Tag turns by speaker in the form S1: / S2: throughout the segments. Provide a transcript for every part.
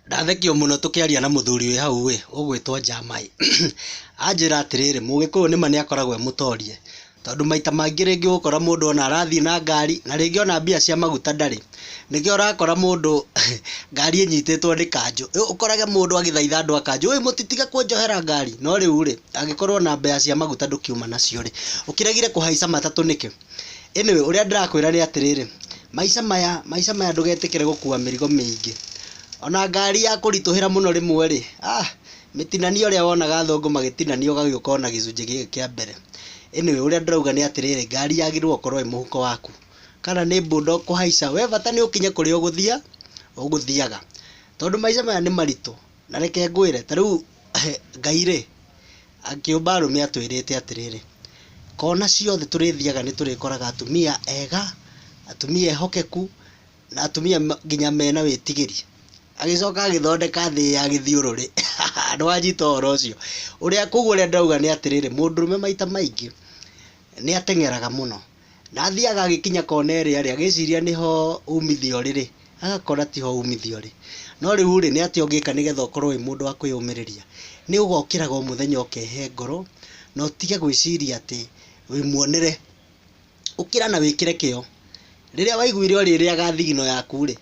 S1: Ndathekio mũno tũkĩaria na mũthuri wĩ hau ĩ, ũgwĩtwo Jamaĩ, anjĩra atĩrĩrĩ, mũgĩkũyũ nĩma nĩ akoragwo e mũtorie, tondũ maita maingĩ rĩngĩ ũgũkora mũndũ ona arathiĩ na ngari, na rĩngĩ ona mbia cia maguta ndarĩ, nĩkĩo ũrakora mũndũ ngari ĩnyitĩtwo nĩ kanjũ, rĩu ũkorage mũndũ agĩthaitha andũ a kanjũ, ũĩ mũtitige kũnjohera ngari, no rĩu rĩ, angĩkorwo ona mbeca cia maguta ndũkiuma nacio rĩ, ũkĩregire kũhaica matatũ nĩkĩ? Anyway ũrĩa ndĩrakwĩra nĩ atĩrĩrĩ, maica maya, maica maya ndũgetĩkĩre gũkua mĩrigo mĩingĩ. Ona ngari ya kũritũhĩra mũno rĩmwe rĩ, ah, mĩtinanie ũrĩa wonaga athũngũ magĩtinania ũgagĩũka ona gĩcunjĩ gĩkĩ kĩa mbere. Anyway ũrĩa ndĩrauga nĩ atĩrĩrĩ, ngari yagĩrĩirwo gũkorwo ĩ mũhuko waku. Kana nĩ bũnda ũkũhaica, we bata nĩ ũkinye kũrĩa ũgũthiaga, ũgũthiaga. Tondũ maica maya nĩ maritũ, Na reke ngwĩre, ta rĩu Ngai rĩ, akĩũmba arũme atwĩrĩte atĩrĩrĩ, kona ciothe tũrĩthiaga nĩ tũrĩkoraga atumia ega, atumia ehokeku, na atumia nginya mena wĩtigĩri. Agĩcoka agĩthondeka thĩ ya gĩthiũrũrĩ. Nĩ wanyita ũhoro ũcio? Ũrĩa kũguo ũrĩa ndĩrauga nĩ atĩrĩrĩ, mũndũrũme maita maingĩ nĩ ateng'eraga mũno. Ndathiaga agĩkinya kona ĩrĩa rĩ, agĩciria nĩho umithio ũrĩ rĩ, agakora tiho umithio ũrĩ. No rĩu rĩ, nĩ atĩa ũngĩka nĩgetha ũkorwo wĩ mũndũ wa kwĩyũmĩrĩria? Nĩ ũgokĩraga o mũthenya ũkehe ngoro, na ũtige gwĩciria atĩ wĩ muonere. Ũkĩra na wĩkĩre kĩo. Rĩrĩa waiguire ũrĩrĩaga thigino yaku rĩ,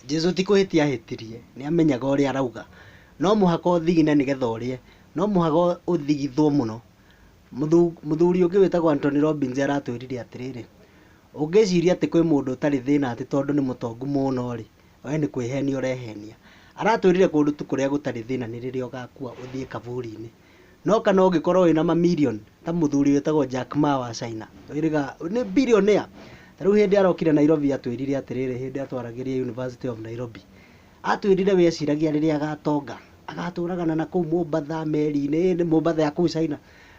S1: Jesu ti kũhĩtia ahĩtirie, nĩ amenyaga ũrĩa arauga. No mũhaka ũthigine nĩgetha ũrĩe. No mũhaka ũthigithwo mũno. Mũthuri ũngĩ wĩtagwo Anthony Robbins aratwĩrire atĩrĩrĩ, "Ũngĩciria atĩ kwĩ mũndũ ũtarĩ thĩna atĩ tondũ nĩ mũtongu mũno-rĩ, wee nĩ kwĩhenia ũrehenia." Aratwĩrire kũndũ tu kũrĩa gũtarĩ thĩna nĩ rĩrĩa ũgakua ũthiĩ kaburi-inĩ. No kana ũngĩkorũo wĩna mamirioni ta mũthuri wĩtagwo Jack Ma wa China, nĩ billionaire. Ta rĩu hĩndĩ arokire Nairobi atwĩrire atĩrĩrĩ hĩndĩ atwaragĩria University of Nairobi, Aatwĩrire we eciragia rĩrĩa agaatonga, agaatũũraga na na kũu Mombasa meri-inĩ, ĩĩ, Mombasa ya kũu China.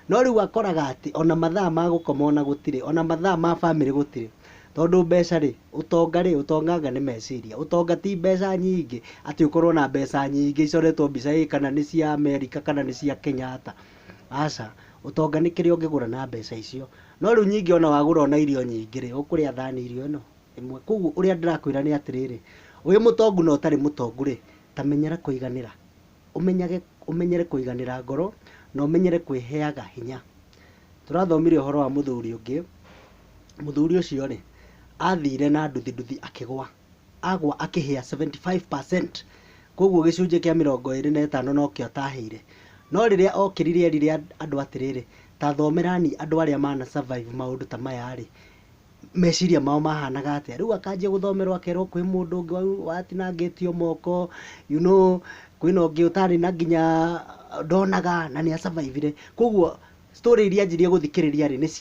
S1: No rĩu akoraga atĩ o na mathaa ma gũkoma o na gũtirĩ, o na mathaa ma famĩlĩ gũtirĩ. Tondũ mbeca-rĩ, ũtonga-rĩ, ũtonga anga nĩ meciria. Ũtonga ti mbeca nyingĩ, atĩ ũkorũo na mbeca nyingĩ icoretwo mbica ĩĩ kana nĩ cia Amerika kana nĩ cia Kenyatta. Aca. Ũtonga nĩ kĩrĩa ũngĩgũra na mbeca icio. No rĩu nyingĩ o na wagũra o na irio nyingĩ-rĩ, ũkũrĩa thani irio ĩno? ĩmwe. Kwoguo ũrĩa ndĩrakwĩra nĩ atĩrĩrĩ, ũrĩ mũtongu na ũtarĩ mũtongu-rĩ, ta menyera kũiganĩra. Ũmenyage, ũmenyere kũiganĩra ngoro na ũmenyere kwĩheaga hinya. Tũrathomire ũhoro wa mũthuri ũngĩ, mũthuri ũcio-rĩ, athire na nduthi nduthi akĩgwa. Agwa akĩhĩa seventy five percent. Kwoguo gĩcunjĩ kĩa mĩrongo ĩrĩ na ĩtano nokĩo atahĩire. No rĩrĩa okĩrire erire andũ atĩrĩrĩ, ta thomerani andũ arĩa mana survive maũndũ ta maya-rĩ, meciria mao mahanaga atĩa. Rĩu akanjia gũthomerwo akerwo kwĩ mũndũ ũngĩ watinangĩtio moko, you know, kwĩna ũngĩ ũtarĩ na nginya ndonaga na nĩ a survive ire. Kũguo story iria anjirie gũthikĩrĩria rĩ, nĩ cia...